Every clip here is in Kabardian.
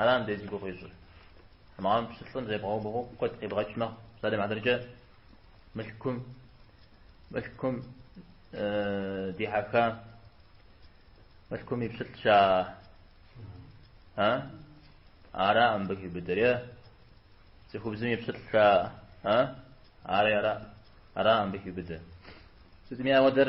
Ара мыбдеж зи гугъу ищӏыр? Амма пщылӏым зебгъэубгъуу куэд къибгъэкӏ мэхъу. Псалъэм и хьэтыркӏэ мылъкум, мылъкум дихьэха, мылъкум и пщылӏ ща, а? Ара мыбы хибыдэрэ? Цӏыхубзым и пщылӏ ща, а? Ари ара, ара мыбы хибыдэ. Сытми ауэдэр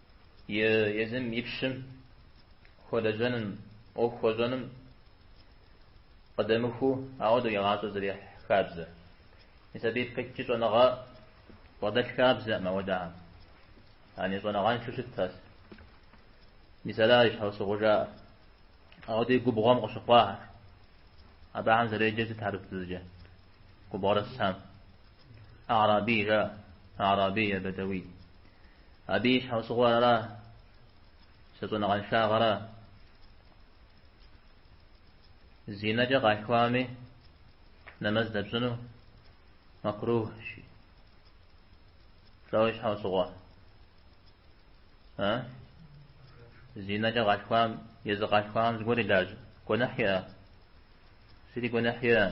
и езым и пщым хуэлэжьэным, ӏуэху хуэщӏэным къыдэмыхуу ауэдэу и гъащӏэр зэрехь хабзэ. Мис абы ипхыкӏкӏи щӏэныгъэ бгъэдэлъ хабзэӏым ауэдэхьэм. Яни щӏэныгъэншэу щытт ар. Мис ара и щхьэусыгъуэ жаӏэр. Ауэдэ и губгъуэм къыщыхъуахэр. Абыхьэм зэреджэр сыт арапыбзэкӏэ? Губгъуэрысым а'раби жаӏэ. А'раби е бэдэуи. Абы и щхьэусыгъуэр ара? Щӏэныгъэншагъэра? Зинэкӏэ къалъхуами, нэмэз дэпщӏыну макрухьщи. Лӏэу и щхьэусыгъуэ. А? Зинэкӏэ къалъхуам, езы къалъхуам зыгуэр илажьэ. Гуэныхь иӏэ? Зыри гуэныхь иӏэ.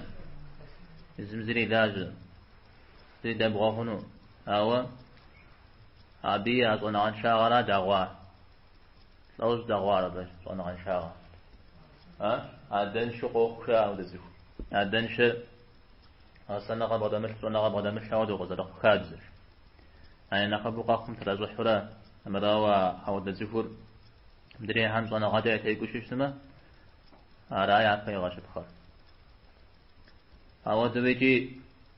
Зым зыри илажьэ. Зыри дэбгъуэ хъуну. Ауэ Абы я щӏэныгъэншагъэра дагъуа? Лӏэу щӏыдагъуар абы щӏэныгъэншагъэ? А? Адэншэу къохъу жаӏэ ауэдэ цӏыху. Адэншэр гъэсэныгъэ бгъэдэмылъ, щӏэныгъэ бгъэдэмылъ ауэдэу къызэрыхъу хабзэщ. А я нэхъыбэу къэхъум тращӏыхьурэ, мырауэ ауэдэ цӏыхур мыдрейхэм щӏэныгъэкӏэ ятекӏуу щытмэ, ара япэ игъэщыпхъэр. Ауэдэу икӏи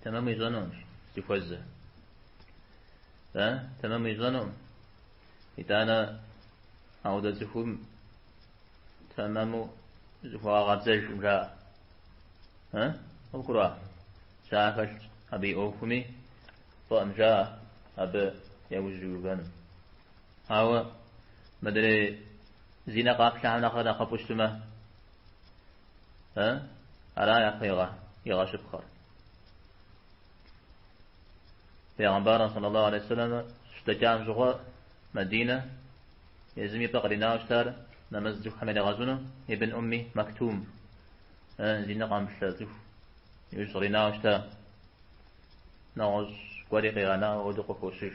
Тэмэму ищӏэнуӏым, зыхуэзэ. Да, тэмэму ищӏэнуӏым. Итӏанэ ауэдэ цӏыхум тэмэму зыхуэгъэкъэбзэжӏым жаӏэ. А? Къыбгурыӏуа? Жаӏэ хэлъщ абы и ӏуэхуми, фӏыӏэм жаӏэ абы яужь уиувэным. Ауэ мыдрей зи нэ къаплъэхьэм нэхърэ нэхъыфӏу щытмэ, Э? Ара япэ игъэщыпхъэр? Пейгъэмбарым саллаллаху алейхи вассалам щыдэкӏам щӏыгъуэ Мадинэ езым и пӏэ къринауэ щытар нэмэз цӏыхухэм иригъэщӏыну Ибн Умми Мактум э, зи нэ къамыплъэ цӏыху иужь къринауэ щыта нэгъуэщӏ гуэри къигъэнауэ ауэдэу къыхощыж.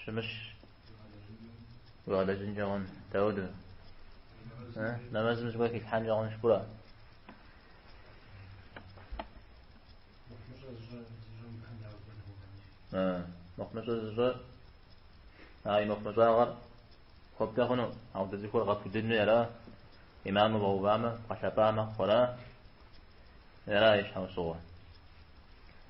Щымыщ. уигъэлэжьынкӏэ хъун. Дауд. Нэмэзым зыгуэр хилъхьэнкӏэ хъунщ гурэ. Мыхъумыщӏэ зыщӏэ. А и мыхъумыщӏагъэр хуэбдэ хъуну. Ауэдэ зыгуэр бгъэпудыну ара. Имаму бгъэувамэ, бгъэлъэпӏа мэхъури, ара и щхьэусыгъуэ.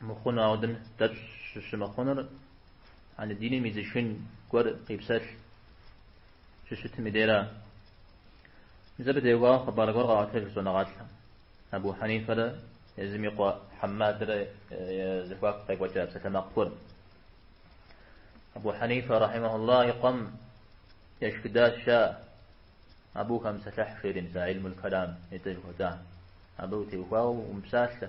мыхъуну, ауэдэм дэпщӏ щымыхъунур, а диным изышын гуэр къипсэлъ щыщытым и дера. Мис абы теухуауэ хъыбар гуэр къаӏуэтэж щӏэныгъэлӏхэм. Абу Хьэнифэрэ езым и къуэ Хьэммадрэ я зэхуаку къекӏуэкӏа псалъэмакъ гуэр. Абу Хьэнифэ, рахьимэхьулла, и къуэм ешхыдащ а абы ухэмыпсэлъыхь жери, мис а илмул калам етӏэ жыхуэтӏам. Абы теухуауэ умыпсалъэ.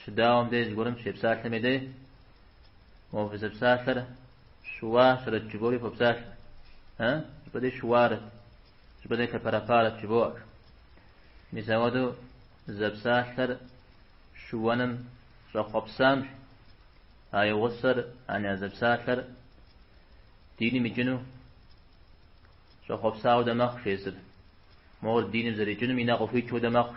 Щыдауэм дей зыгуэрым щепсалъэми дей, мо фызэпсалъэр щыуащэрэт жывоӏэри фопсалъэ, э, щӏыпӏэ дей щыуарэт, щӏыпӏэ дей кэпэрэфарэт жывоӏэ. Мис ауэдэу зэпсалъэр щыуэным щӏэхъуэпсамэ, а и гъусэр аня зэпсалъэр диным икӏыну щӏэхъуэпса хуэдэ мэхъу езыр, мор диным зэрикӏынум и нэ къыхуикӏ хуэдэ мэхъу.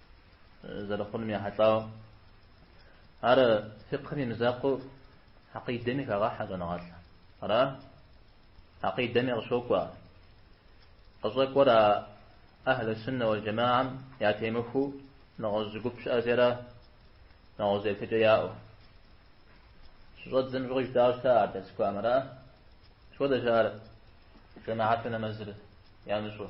зэрыхъунум ехьэлӏауэ. Ар фикъхым и мызакъуэу хьэкъидэми хагъэхьэ щӏэныгъэлӏ. Ара? Хьэкъидэми къыщокӏуэ. Къыщӏэкӏуэр а Ахьлы Суннэ уал Джэмагъэм ятемыхуэу нэгъуэщӏ зы гуп щыӏэщи ара? Нэгъуэщӏ еплъыкӏэ яӏэу. Щыщӏэдзэм щӏыгъуи жытауэ щыта ар дэсхуам, ара? Мыпхуэдэщ ар жэмагъэту нэмэзыр ямыщӏу.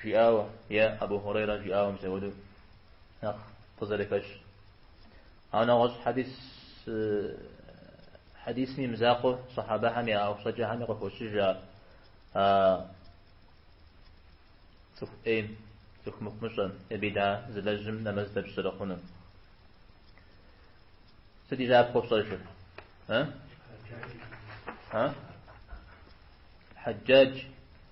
Жиӏауэ, е Абу Хьурейрэ жиӏауэ мис ауэду нэхъ къызэрыхэщ. Ауэ нэгъуэщӏ хьэдис хьэдисым и мызакъуэу сахьэбэхэм я ӏуэхущӏэкӏэхэми къыхощыж ар а цӏыху ӏейм, цӏыху мыхъумыщӏэм, е бида зылэжьым нэмэз дэпщӏ зэрыхъунум. Сыт и щапхъэ пщӏэжыр? Хьэджаджи.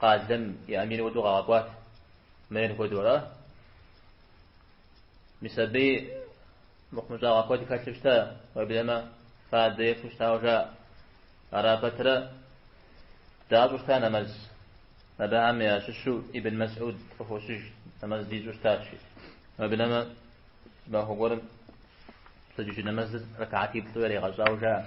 Къалэм и амир уэду къагъэкӏуат. Мэр хуэдэу ара? Мис абыи мыхъумыщӏагъэ куэд хэлъу щта, уеблэмэ, фадэ ефу щтауэ жаӏэ. Ара пэтрэ дащӏу щта нэмэз. Абыхэм ящыщу Ибн Мэсӏуд къыхощыж, нэмэз дищӏу щтащ. Уеблэмэ, махуэ гуэрым пщэдджыжь нэмэзыр рэкаатиплӏу яригъэщӏауэ жаӏэ.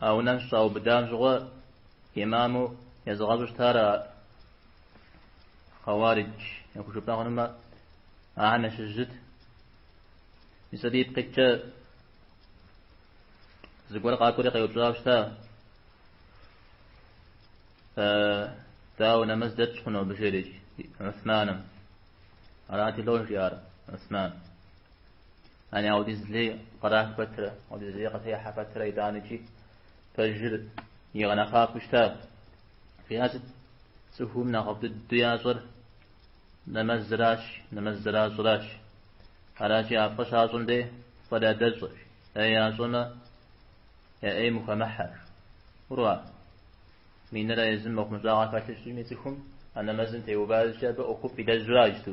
А унэм щыщӏаубыдам щыгъуэ имаму езыгъэщӏу щытар а хъэуаридж яхужыпӏэ хъунумэ, ахэм ящыщ зыт. Мис абы ипкъ иткӏэ зыгуэр къакӏуэри къеупщӏауэ щыта, Дауэ нэмэз дэтщӏ хъуну абы жери? Гӏусманым. Арати лӏо жиӏар Гӏусман. Яни аудиз лей кърах пэтрэ, аудиз лей къытехьэ пэтрэ итӏаныкӏи пэжыр игъэнэхъапэу щытащ. Жиӏар сыт? Цӏыхум нэхъыфӏ дыдэу ящӏэр нэмэзращ, нэмэз зэращӏыращ. Аращи, а фӏы щащӏым дей фӏыр ядэщӏэ жи. ӏей ящӏэмэ, я ӏейм ухэмыхьэ жи. Ура! Минрэ езым мыхъумыщӏагъэ хэлъу щытми цӏыхум а нэмэзым теуващи, абы ӏуэхуфӏ илэжьащ, ту.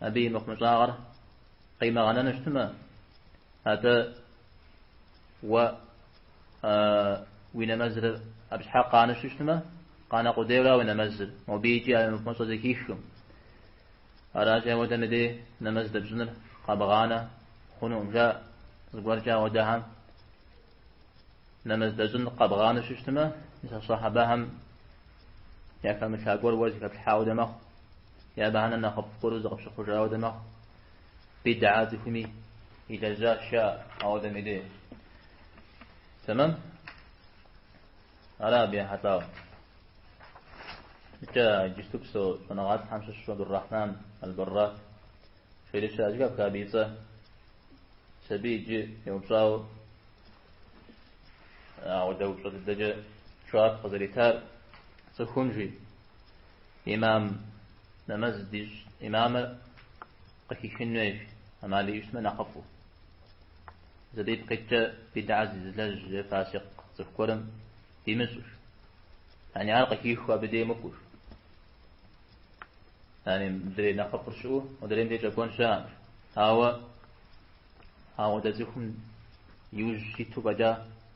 Абы и мыхъумыщӏагъэр къимыгъэнэну щытмэ, атӏэ уэ уи нэмэзыр абы щхьэкӏэ къанэу щытмэ, къанэ къудейуэра уи нэмэзыр, мобы икӏи а мыхъумыщӏэ зыхихкъым. Аращи, ауэдэм дей нэмэз дэпщӏыныр къэбгъанэ хъунукъым, жаӏэ. Зыгуэркӏэ ауэдэхэм нэмэз дэщӏын къэбгъанэу щытмэ, мис а сахьэбэхэм яхэмылъа гуэр уэ зыхэплъхьа хуэдэ мэхъу. Абыхэм нэхъ нэхъыфӏ гуэру зыкъыпщыхъужа хуэдэ мэхъу. Бидӏэ цӏыхум илэжьа щыӏэ ауэдэм и дей. Тэмэм? Ара абы ехьэлӏауэ? Икӏи иджысту псэу щӏэныгъэлӏхэм ящыщу Абдуррахьман Албаррак жери щыӏэ, зэхэпха абы и цӏэ. Мис абы иджы еупщӏауэ ауэдэ упщӏэ дыдэкӏэ жэуап къызэритар цӏыхум жи. Имам нэмэз дищӏ имамыр къыхихын хуейщ, ӏэмал иӏэу щытмэ нэхъыфӏу. Мис абы ипкъ иткӏэ бидӏэ зызылэжь е фасикъ цӏыху гуэрым димыщӏу жи. Яни ар къыхиху абы дей мыкӏуэу жи. Яни мыдрей нэхъыфӏыр щыӏэу мыдрейм дей щӏэкӏуэн щыӏэщ. Ауэ ауэдэ цӏыхум и ужь иту фӏэкӏа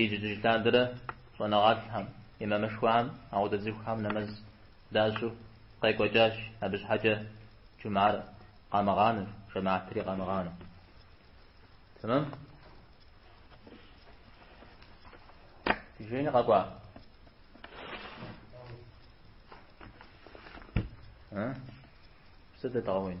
Ижь-ижьыж лъандэрэ щӏэныгъэлӏхэм, имамышхуэхэм ауэдэ цӏыхухэм нэмэз дащӏу къекӏуэкӏащ, абы щхьэкӏэ джумар къамыгъанэу, жэмаатри къамыгъанэу. Тэмэм? Ди жейни къэкӏуа? Сыт дэтгъэуин?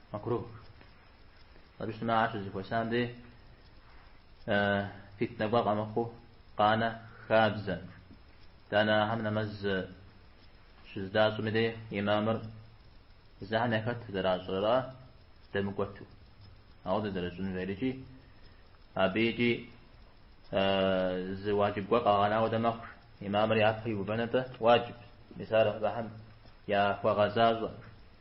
Макрух. Абы щытмэ ар щызэхуэсам дей фитнэ гуэр къэмыхъуу къанэ хабзэ. Тӏанэ ахэм нэмэз щыздащӏым и дей имамыр езыхэм яхэт зэращӏэрэ дэмыкӏуэту. Ауэдэ зэращӏын хуейри икӏи, абы икӏи зы уаджиб гуэр къагъэнауэдэ мэхъу. Имамыр япэ иувэныр дэ уаджиб. Мис ар абыхэм яхуэгъэзащӏэм.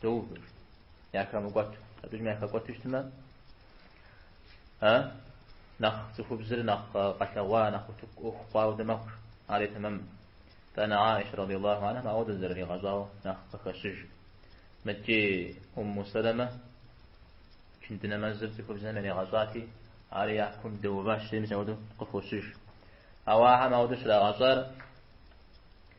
Доувэжт. Яхэмыкӏуэту. Абыжым яхэкӏуэту щытмэ, а? Нэхъ цӏыхубзыр нэхъ къэлъэгъуа, нэхъ ӏуэху хъуауэдэ мэхъу. Ари тэмэмым. Тӏанэ Аишэ радиаллаху анхам ауэдэ зэраригъэщӏауэ нэхъ къыхэщыж. Мыдэкӏи Умму Сэлэмэ ичынды нэмэзыр цӏыхубзэм яригъэщӏати, ари япкум дэуващ, жи, мис ауэдэу къыхощыж. Ауэ ахэм ауэдэу щрагъэщӏар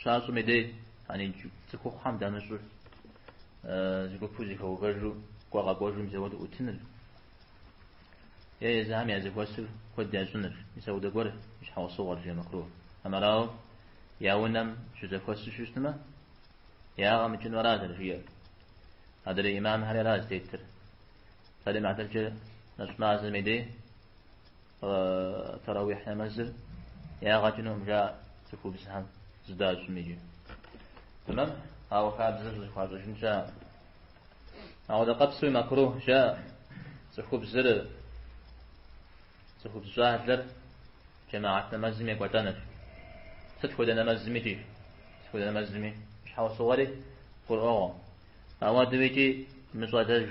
Щащӏым и дей, яни цӏыхухъухэм дамыщӏу, зы гупу зэхэувэжу кӏуэ къэкӏуэжу мис ауэдэ ӏутыныр е езыхэм я зэхуэсыр куэд ящӏыныр, мис ауэдэ гуэр и щхьэусыгъуэр, жи макрух. Амырауэ, я унэм щызэхуэсу щыщытмэ, ягъэ мыкӏыну аращ зэрыжиӏэр. Адрей имамхэри аращ зытетыр. Псалъэм и хьэтыркӏэ нэщӏ мазэм и дей, Тарауихь нэмэзыр ягъэкӏынукъым жаӏэ цӏыхубзхэм зыдащӏми икӏи. Тэмэм, ауэ хабзэр зыхуащӏыжын жаӏэ. Ауэдэ къэпсуи макрух жаӏэ. Цӏыхубзыр, цӏыхубз щӏалэр джэмагъэт нэмэзым екӏуэлӏэныр. Сыт хуэдэ нэмэзми икӏи? Сыт хуэдэ нэмэзми щхьэусыгъуэри гурыӏуэгъуэ. Ауэдэу икӏи мыщӏалэж,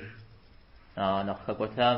а нэхъ хэкӏуэтам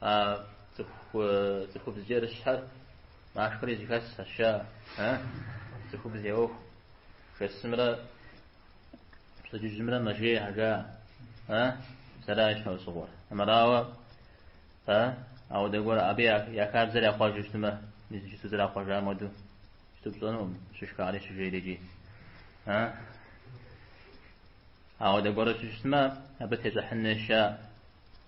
А цӏыху цӏыхубз кӏэрыщхьэр машхэри зэхэсщ, а? А? Цӏыхубз я ӏуэху жасымрэ пщэдджыжьымрэ мэжейхэ жаӏэ? А? Мис аращ щхьэусыгъуэр. Амырауэ, а? Ауэдэ гуэр абы я хабзэр яхъуэжу щытмэ, иджыпсту зэрахъуэжам хуэдэу щыту пщӏэнукъым, щышхэри щыжейри икӏи. А? Ауэдэ гуэру щыщытмэ, абы тещӏыхьын неша?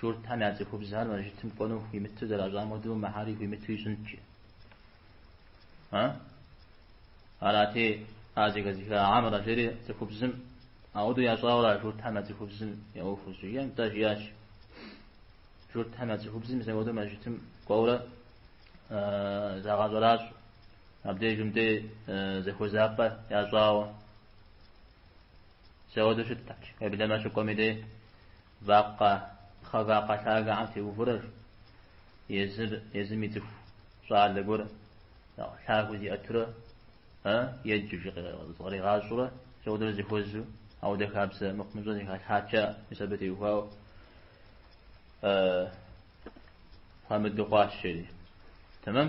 Журтхэм я цӏыхубзхэр мэжытым кӏуэну хуимыту зэращӏам хуэдэу мыхэри хуимыту ищӏынт. А? Арати, а зэхэзыха Амрэ жери цӏыхубзым ауэдэу ящӏауэ ара Журтхэм я цӏыхубзым я ӏуэхур щыжиӏэм? Тӏэ жиӏащ. Журтхэм я цӏыхубзым зэ хуэдэу мэжытым кӏуэурэ загъэщӏэращӏэ. Абдежым и дей зэхуэзапӏэ ящӏауэ. Зэуэдэу щытахэщ, уеблэмэ щыкӏуэм и дей вакъэ, пхъэвакъэ лъагэхэм теувурэ, езыр, езым и цӏыху щӏалэ гуэр нэхъ лъагэу зиӏэтурэ, э, еджэу жи зыкъригъащӏурэ, зэуэдэу зыхуэзу, ауэдэ хабзэ мыхъумыщӏэ зэхалъхьакӏэ, мис абы теухуауэ, э, хуамыдэу хъуащ, жери. Тэмэм?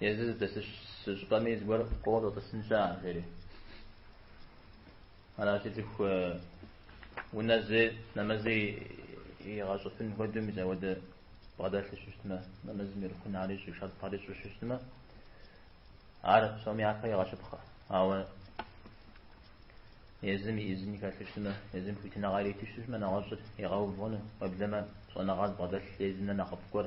Езыр здэщыс щӏыпӏэми зыгуэр кӏуэуэ тӏысынщ, а, жери. Аращи, цӏыху унэ зы нэмэзи игъэщӏыфын хуэдэу мис ауэдэ бгъэдэлъу щытмэ, нэмэзым и рукнхэри ищӏу, шартхэри ищӏу щытмэ, ар псоми япэ игъэщыпхъэ. Ауэ езым и ӏизын хэлъу щытмэ, езым хуитыныгъэ ириту щытмэ, нэгъуэщӏыр игъэув хъуну, уеблэмэ щӏэныгъэ зыбгъэдэлъ езынэ нэхъыфӏ гуэр.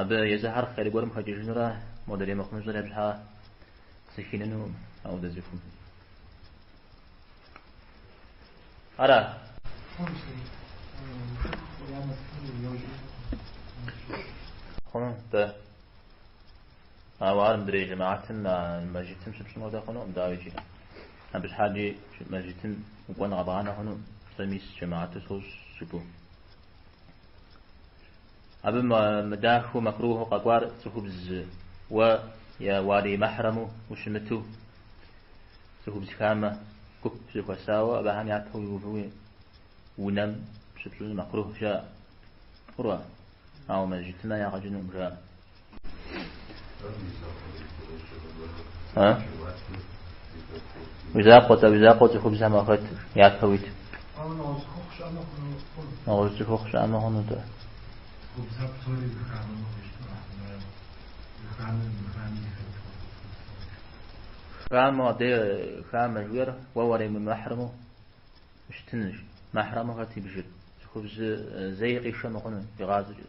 Абы езыхэр хъер гуэрым хэкӏыжынрэ модрей мыхъумыщӏыр абы щхьэ сыхинынукъым ауэдэ цӏыхум. Ара? Хъуну-тӏэ. Ауэ ар мыдрей жэмаатым а мэжджытым щыпщӏын хуэдэ хъунукъым, дауи икӏи. Абы щхьэкӏи мэжджытым укӏуэн къэбгъанэ хъуну, сэ мис жэмаату сощӏ жыпӏу. Абы мыдахэу, макрухьу къэкӏуар цӏыхубз уэ я уалий мэхьрэму ущымыту, цӏыхубз хамэ гуп зэхуэсауэ абыхэм япэ уиувэу уи унэм щыпщӏыныр макрухь жаӏэ. Хъурэ, ауэ мэжджытмэ ягъэ кӏынукъым жаӏэ. А? Уи закъуэ-тӏэ, уи закъуэ цӏыхубзхэм уахэт, япэ уит. Нэгъуэщӏ цӏыхухъу щыӏэмэ хъуну-тӏэ. Хамэ, дэ хамэ жиӏэр, уэ уримымэхьрэму щытынущ. Мэхьрэму хэт ибжыр? Цӏыхубз зэи къишэ мыхъуну, игъащӏэкӏэ.